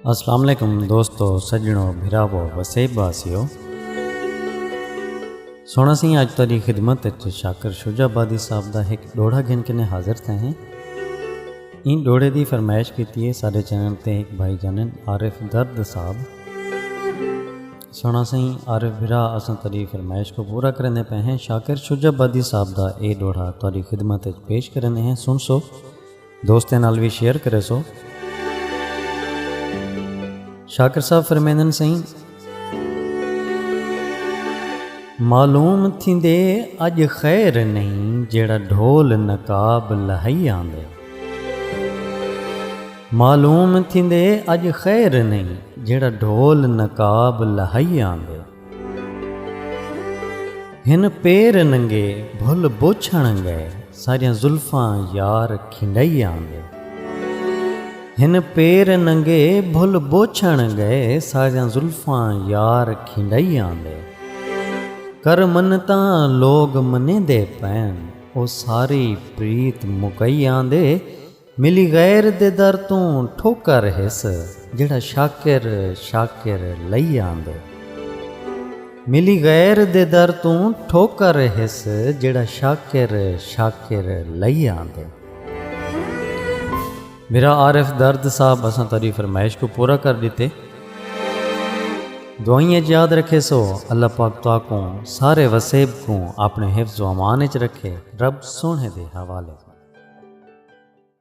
السلام علیکم دوستو سجنو بھراو وسیب واسیو سونا سی اج تاری خدمت اچ شاکر شجا بادی صاحب دا ایک ڈوڑا گھن کنے حاضر تھے ہیں این ڈوڑے دی فرمائش کیتی ہے سارے چینل تے ایک بھائی جانن عارف درد صاحب سوہݨا سئیں عارف بھرا اساں تہاݙی فرمائش کوں پورا کریندے پئے ہیں شاکر شجاع آبادی صاحب دا اے ݙوہڑا تہاݙی خدمت اچ پیش کریندے ہیں سݨسو دوستیں نال وی شیئر کریسو شاکر صاحب فرمیندن سئیں معلوم تھیندے اج خیر نہیں جیڑا ڈھول نقاب لہائی آندے معلوم تھیندے اڄ خیر نئیں جیڑھا ڈھول نقاب لہائی آندے۔ ہن پیر ننگے بھل بوچھݨ گئے ساریاں زلفاں یار کھنڈائی آندے۔ ہن پیر ننگے بھل بوچھݨ گئے ساریاں زلفاں یار کھنڈائی آندے۔ کر منتاں لوگ منیندے پئن او ساری پریت مکائی آندے۔ ملی غیر دے در توں ٹھوکر ہس جیڑھا شاکر شاکر لئی آندے۔ ملی غیر دے در توں ٹھوکر ہس جیڑھا شاکر شاکر لئی آندے۔ میرا عارف درد صاحب اساں تہاڈی فرمائش کوں پورا کر ڈتے۔ دعائیں اچ یاد رکھے سو اللہ پاک تہاکوں سارے وسیب کوں اپنے حفظ و امان اچ رکھے رب سوہنے دے حوالے۔